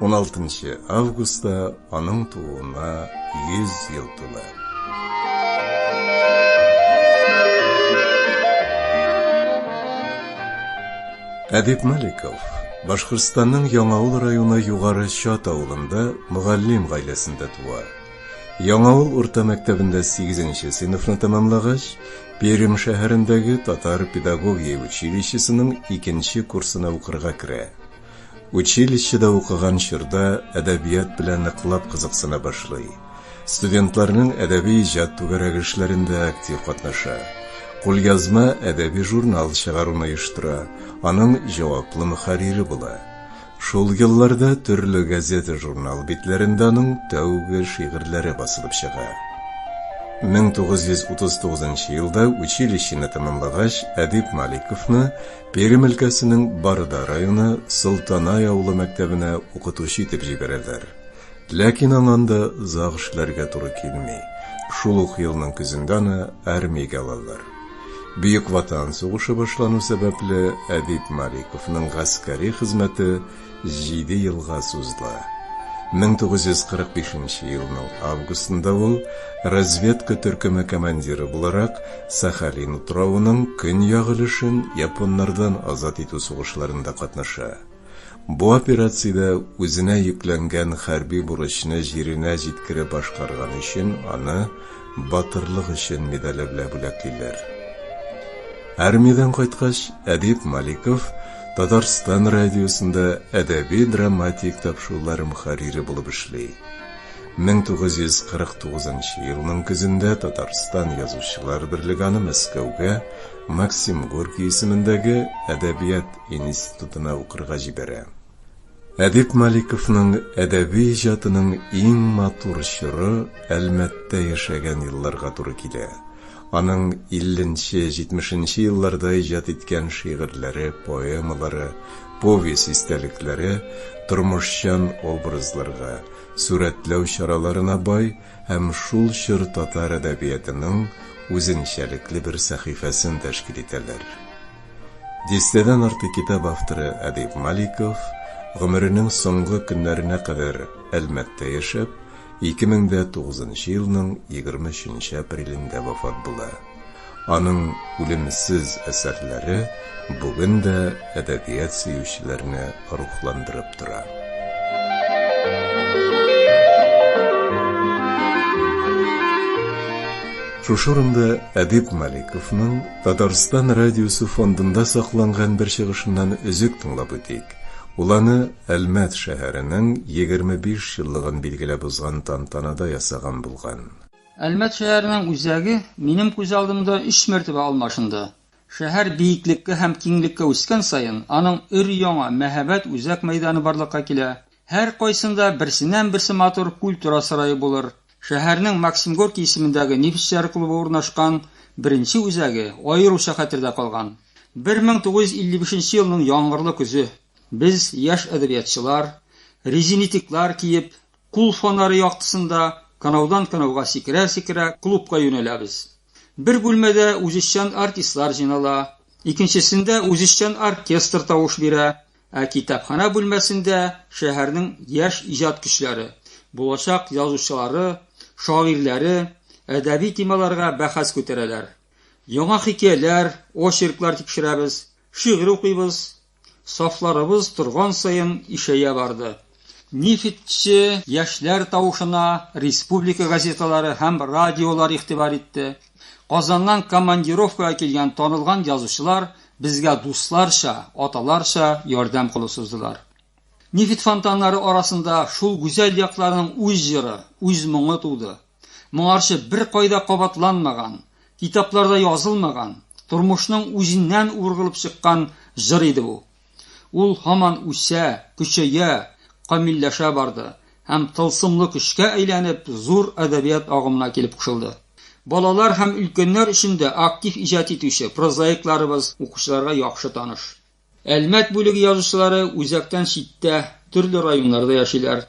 16 августта аның тууына 100 ел тула. Әдип Маликов Башкортстанның Яңавыл районы Югары Чат авылында мөгаллим гаиләсендә туа. Яңавыл урта мәктәбендә 8-нче сыйныфны тәмамлагач, Пермь шәһәрендәге татар педагогия училищесының 2-нче курсына укырга керә. Училищеда укыган чорда әдәбият белән ныклап кызыксына башлый. Студентларның әдәби-иҗат түгәрәге эшләрендә актив катнаша. Кулъязма әдәби журнал чыгаруны оештыра, аның җаваплы мөхәррире була. Шул елларда төрле газета-журнал битләрендә аның тәүге шигырьләре басылып чыга. 1939 елда училищены тәмамлагач, Әдип Маликовны Пермь өлкәсенең Барда районы Солтанай авылы мәктәбенә укытучы итеп җибәрәләр. Ләкин аңа анда озак эшләргә туры килми, шул ук елның көзендә аны армиягә алалар. Бөек Ватан сугышы башлану сәбәпле, Әдип Маликовның гаскәри хезмәте Җиде елга сузыла. 1945 нче елның августында ул, разведка төркеме командиры буларак, Сахалин утравының көньяк өлешен японнардан азат итү сугышларында катнаша. Бу операциядә үзенә йөкләнгән хәрби бурычны җиренә җиткереп башкарганы өчен аны Батырлык өчен медале белән бүләклиләр. Армиядән кайткач, Әдип Маликов Татарстан радиосында әдәби-драматик тапшырулар мөхәррире булып эшли. 1949 нчы елның көзендә Татарстан Язучылар берлеге аны Мәскәүгә, Максим Горький исемендәге әдәбият институтына укырга җибәрә. Әдип Маликовның әдәби иҗатының иң матур чоры Әлмәттә яшәгән елларга туры килә. Аның 50 нче, 70 нче елларда иҗат иткән шигырьләре, поэмалары, повесть истәлекләре тормышчан образларга, сурәтләү чараларына бай һәм шул чор татар әдәбиятының үзенчәлекле бер сәхифәсен тәшкил итәләр. Дистәдән артык китап авторы Әдип Маликов, гомеренең соңгы көннәренә кадәр Әлмәттә яшәп, 2009 нчы елның 23 нче апрелендә вафат була. Аның үлемсез әсәрләре бүген дә әдәбият сөючеләрне рухландырып тора. Шушы урында Әдип Маликовның Татарстан радиосы фондында сакланган бер чыгышыннан өзек тыңлап үтик. Ул аны Әлмәт шәһәренең 25 еллыгын билгеләп узган тантанада ясаган булган. Әлмәт шәһәренең үзәге минем күз алдымда өч мәртәбә алмашынды. Шәһәр биеклеккә һәм киңлеккә үскән саен, аның өр-яңа, мәһабәт үзәк мәйданы барлыкка килә. Һәркайсында берсеннән-берсе матур культура сарае булыр. Шәһәрнең Максим Горький исемендәге Нефтьчеләр клубы урнашкан беренче үзәге аеруча хәтердә калган. 1955 нче елның яңгырлы көзе. Без, яшь әдәбиятчылар, резинитиклар киеп, кул фонары яктысында канаудан канауга сикерә-сикерә, клубка юнәләбез. Бер бүлмәдә үзешчән артистлар җыйнала, икенчесендә үзешчән оркестр тавыш бирә, ә китапханә бүлмәсендә шәһәрнең яшь иҗат көчләре, булачак язучылары, шагыйрьләре әдәби темаларга бәхәс күтәрәләр. Яңа хикәяләр, очерклар тикшерәбез, шигырь укыйбыз, Сафларыбыз торган саен ишәя барды. Нефтьче яшьләр тавышына республика газеталары һәм радиолар игътибар итте. Казаннан командировкага килгән танылган язучылар безгә дусларча, аталарча ярдәм кулы суздылар. Нефть фонтаннары арасында шул гүзәл якларның үз җыры, үз моңы туды. Моңарчы беркайда кабатланмаган, китапларда язылмаган, тормышның үзеннән ургылып чыккан җыр иде бу. Ул һаман үсә, көчәя, камилләшә барды һәм тылсымлы көчкә әйләнеп, зур әдәбият агымына килеп кушылды. Балалар һәм өлкәннәр өчен дә актив иҗат итүче прозаикларыбыз укучыларга яхшы таныш. Әлмәт бүлеге язучылары үзәктән читтә, төрле районнарда яшиләр.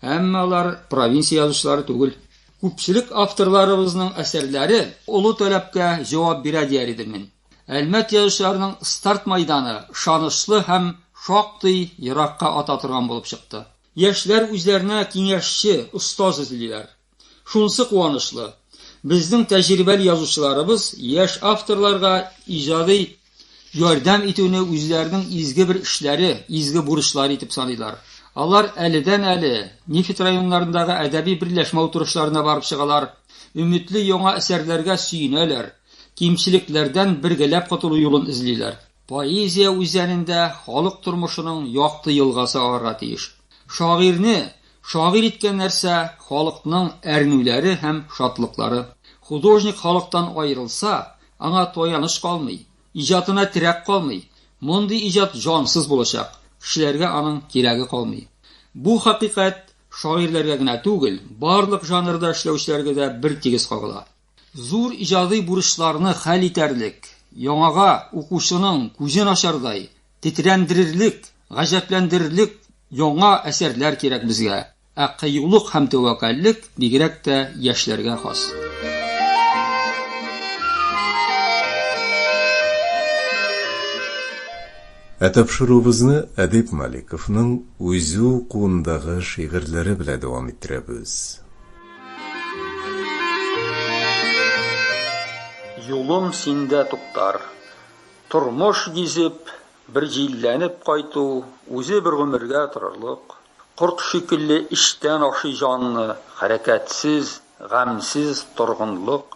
Әмма алар провинция язучылары түгел. Күпчелек авторларыбызның әсәрләре олы таләпкә җавап бирә дияр идем мин. Әлмәт язучыларының старт майданы ышанычлы һәм шактый еракка ата торган булып чыкты. Яшьләр үзләренә киңәшче, остаз эзлиләр. Шунысы куанычлы, безнең тәҗрибәле язучыларыбыз яшь авторларга иҗади ярдәм итүне үзләренең изге бер эшләре, изге бурычлары итеп саныйлар. Алар әледән-әле Нефть районнарындагы әдәби берләшмә утырышларына барып чыгалар, өметле яңа әсәрләргә сөенәләр, кимчелекләрдән бергәләп котылу юлын эзлиләр. Поэзия үзәнендә халык тормышының якты елгасы агарга тиеш. Шагыйрьне шагыйрь иткән нәрсә, халыкның әрнүләре һәм шатлыклары. Художник халыктан аерылса, аңа таяныч калмый, иҗатына терәк калмый. Мондый иҗат җансыз булачак, кешеләргә аның кирәге калмый. Бу хакыйкать шагыйрьләргә генә түгел, барлык жанрда эшләүчеләргә дә бертигез кагыла. Зур иҗади бурычларны хәл итәрлек, яңага укучының күзен ачардай, тетрәндерерлек, гаҗәпләндерерлек яңа әсәрләр кирәк безгә, ә кыюлык һәм тәвәккәллек бигрәк тә яшьләргә хас. Ә тапшыруыбызны Әдип Маликовның үзе укуындагы шигырьләре белән дәвам иттерәбез. Юлым синдә туктар. Тормыш гизеп, бер җилләнеп кайту, үзе бер гомергә торырлык. Корт шикелле эчтән ашый җанны, хәрәкәтсез, гамьсез торгынлык.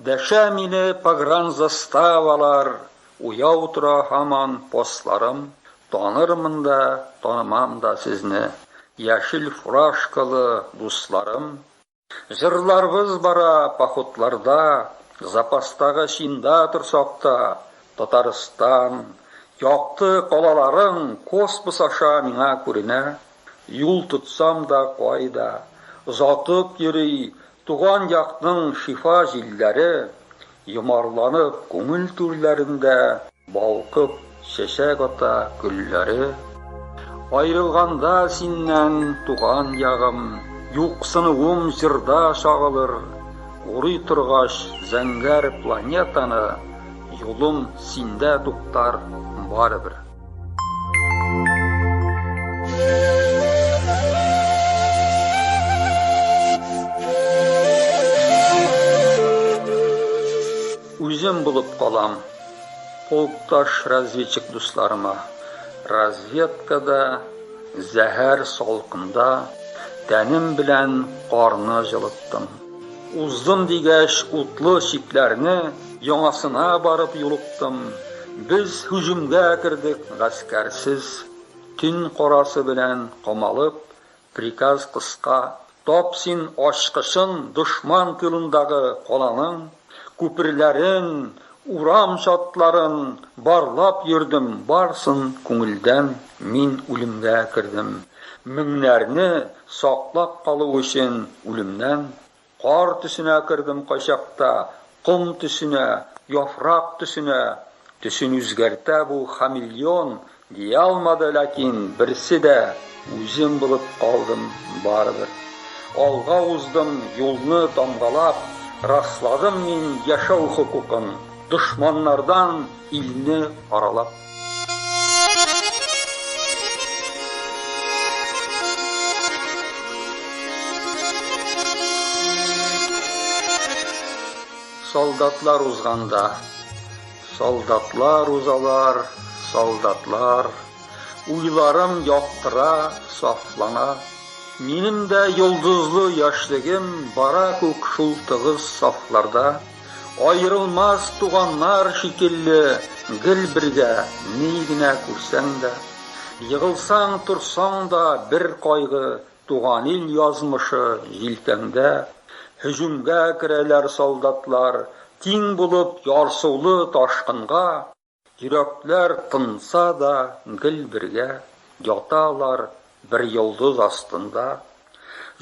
Дәшә мине погранзаставалар, уяу тора һаман постларым. Танырмын да, танымам да сезне, Яшел фуражкалы дусларым. Җырларбыз бара походларда, Запастагы чинда торсак та, Татарстан, якты калаларың Космос аша миңа күренә. Юл тотсам да кайда, озатып йөри Туган якның шифа җилләре Йомарланып күңел түрләрендә. Балкып чәчәк ата гөлләре. Аерылганда синнән, туган ягым, Юксынуым җырда чагылыр. Урый торгач зәңгәр планетаны, Юлым синдә туктар барыбер. Үзем булып калам. Полкташ разведчик дусларыма. Разведкада, зәһәр салкында тәнем белән карны җылыттым. Уздым дигәч утлы чикләрне, Яңасына барып юлыктым. Без һөҗүмгә кердек гаскәрсез, Төн карасы белән камалып, Приказ кыска, Тап син ачкычын Дошман тылындагы каланың. Күперләрен, урам чатларын Барлап йөрдем, барсын күңелдән Мин үлемгә кердем. Меңнәрне саклап калу өчен үлемнән Кар төсенә кердем кайчакта, Ком төсенә, яфрак төсенә. Төсен үзгәртә бу хамелеон Дия алмады, ләкин берсе дә үзем булып калдым барыбер. Алга уздым, юлны тамгалап, расладым мин яшәү хокукын, дошманнардан илне аралап. Солдатлар узганда. Солдатлар узалар, солдатлар, Уйларым яктыра, сафлана. Минем дә йолдызлы яшьлегем Бара күк шул тыгыз сафларда. Аерылмас туганнар шикелле, Гел бергә, ни генә күрсәң дә. Егылсаң, торсаң да, бер кайгы, Туган ил язмышы җилкәңдә, Һөҗүмгә керәләр солдатлар, Тиң булып ярсулы ташкынга, Йөрәкләр тынса да, гел бергә, Яталар бер йолдыз астында.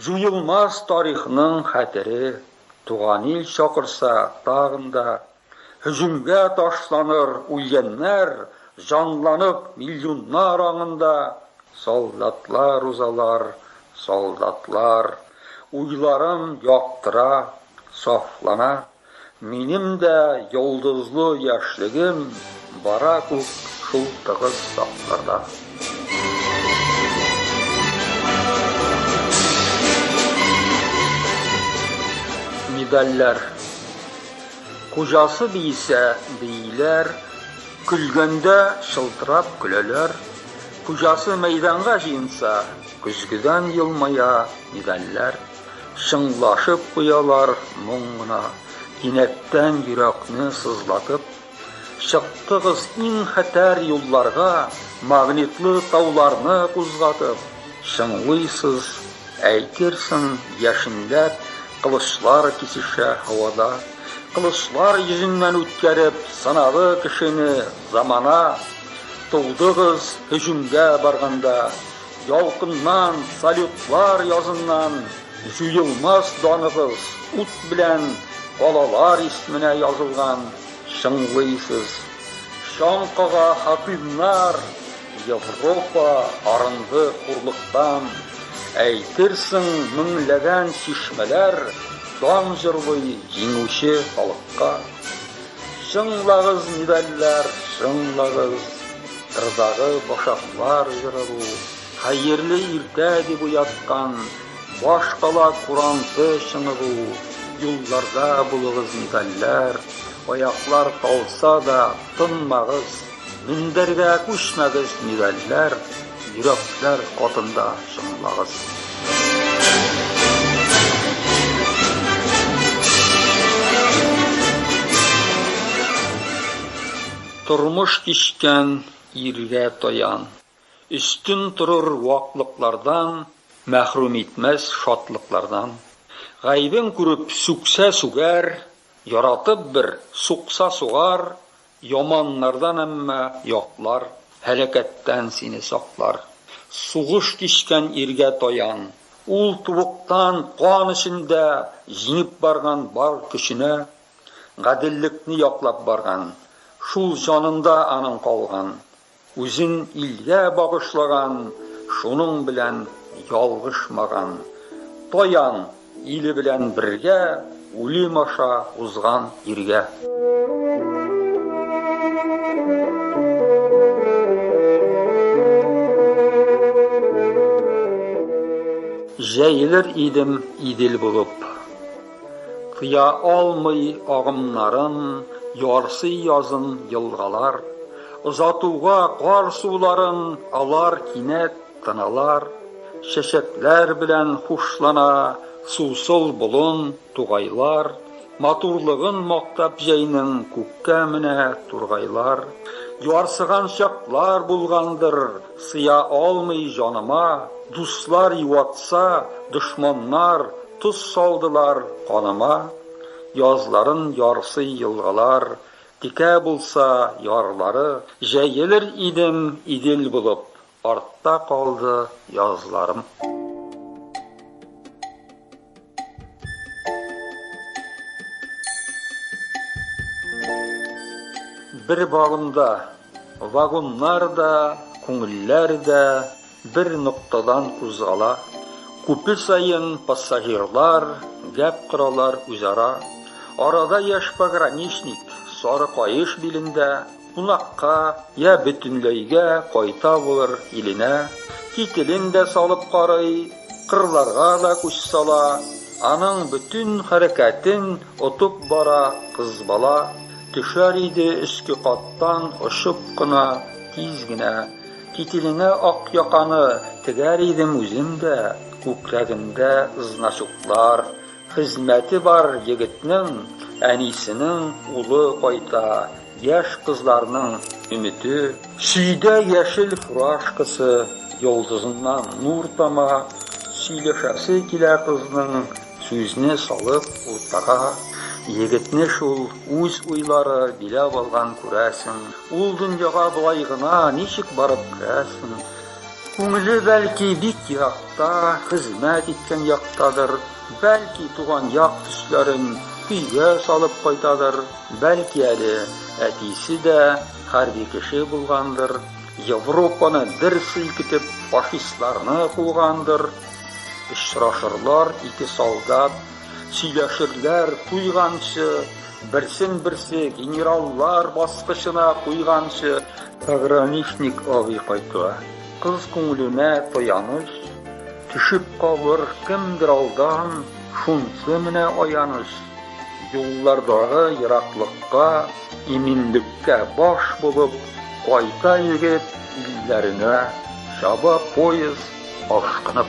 Җуелмас тарихның хәтере, Туган ил чакырса тагын да, Һөҗүмгә ташланыр үлгәннәр, Җанланып миллионнар аңында. Солдатлар узалар, солдатлар, Уйларым яктыра, сафлана. Минем дә йолдызлы яшьлегем Бара күк шул тыгыз сафларда. Медальләр. Хуҗасы биисә, бииләр, көлгәндә чылтырап көләләр. Хуҗасы мәйданга җыенса, көзгедән елмая медальләр. Чыңлашып куялар моң гына, кинәттән йөрәкне сызлатып. Чыктыгыз иң хәтәр юлларга, магнитлы тауларны кузгатып. Чыңлыйсыз, әйтерсең, яшенләп, Кылычлар кисешә һавада. Кылычлар йөзеннән үткәреп, Сынады кешене замана. Тудыгыз һөҗүмгә барганда, Ялкыннан, салютлар языннан, Җуелмас даныгыз ут белән, Калалар исменә язылган, Чыңлыйсыз. Чаң кага хакимнар! Европа арынды хурлыктан, Әйтерсең, меңләгән чишмәләр Дан җырлый җиңүче халыкка. Чыңлагыз медальләр, чыңлагыз, Кырдагы башаклар җыры бу, Хәерле иртә дип уяткан, Башкала куранты чыңы бу. Юлларда булыгыз медальләр, Аяклар талса да, тынмагыз. Мендәргә күчмәгез медальләр, йөрәкләр катында чыңлагыз. Тормыш кичкән иргә таян. Өстен торыр ваклыклардан, Мәхрүм итмәс шатлыклардан. Гайбен күреп сүксә сүгәр, Яратып бер сукса сугар, Яманнардан әмма яклар, Һәлакәттән сине саклар. Сугыш кичкән иргә таян, Ул тубыктан кан эчендә Җиңеп барган бар көченә, Гаделлекне яклап барган. Шул җанында аның калган, Үзен илгә багышлаган, шуның белән ялгышмаган. Таян, иле белән бергә, үлем аша узган иргә. Җәелер идем Идел булып. Кыя алмый агымнарын Ярсый язын елгалар. Озатуга кар суларын Алар кинәт тыналар. Чәчәкләр белән хушлана Сусыл болын тугайлар. Матурлыгын мактап җәйнең Күккә менә тургайлар. Ярсыган чаклар булгандыр, Сыя алмый җаныма, Дуслар юатса, дошманнар, Тоз салдылар каныма. Язларын ярсый елгалар, Текә булса ярлары, Җәелер идем Идел булып, Артта калды язларым. Бер вагонда вагоннар да, күңелләр дә бер ноктадан кузгала. Күпе саен пассажирлар гәп коралар үзара. Арада яшь пограничник, сары каеш билендә, Кунакка йә бөтенләйгә кайта булыр иленә кителен дә салып карый, кырларга да күз сала, аның бөтен хәрәкәтен отып бара кыз бала, төшәр иде өске каттан очып кына, тиз генә, кителенә ак яканы тегәр идем үзем дә, күкрәгендә значоклар, Хезмәте бар егетнең, әнисенең улы кайта, яшь кызларның өмете. Сөйдә яшел фуражкасы йолдызыннан нур тама, сөйләшәсе килә кызның, сүзне салып уртага. Егетне шул үз уйлары биләп алган, күрәсең. Ул дөньяга болай гына ничек барып керәсең? Күңеле, бәлки, бик еракта, хезмәт иткән яктадыр, бәлки, туган як төсләрен өйгә салып кайтадыр, бәлки әле әтисе дә хәрби кеше булгандыр, Европаны дер селкетеп, фашистларны кугандыр. Очрашырлар ике солдат, сөйләшерләр туйганчы, Берсен-берсе генераллар баскычына куйганчы, пограничник абый кайтуы, кыз күңеленә таяныч, төшеп калыр кемдер алдан, шунсы менә аяныч. Юллардагы ераклыкка, иминлеккә баш булып, кайта егет илләренә, чаба поезд ашкынып.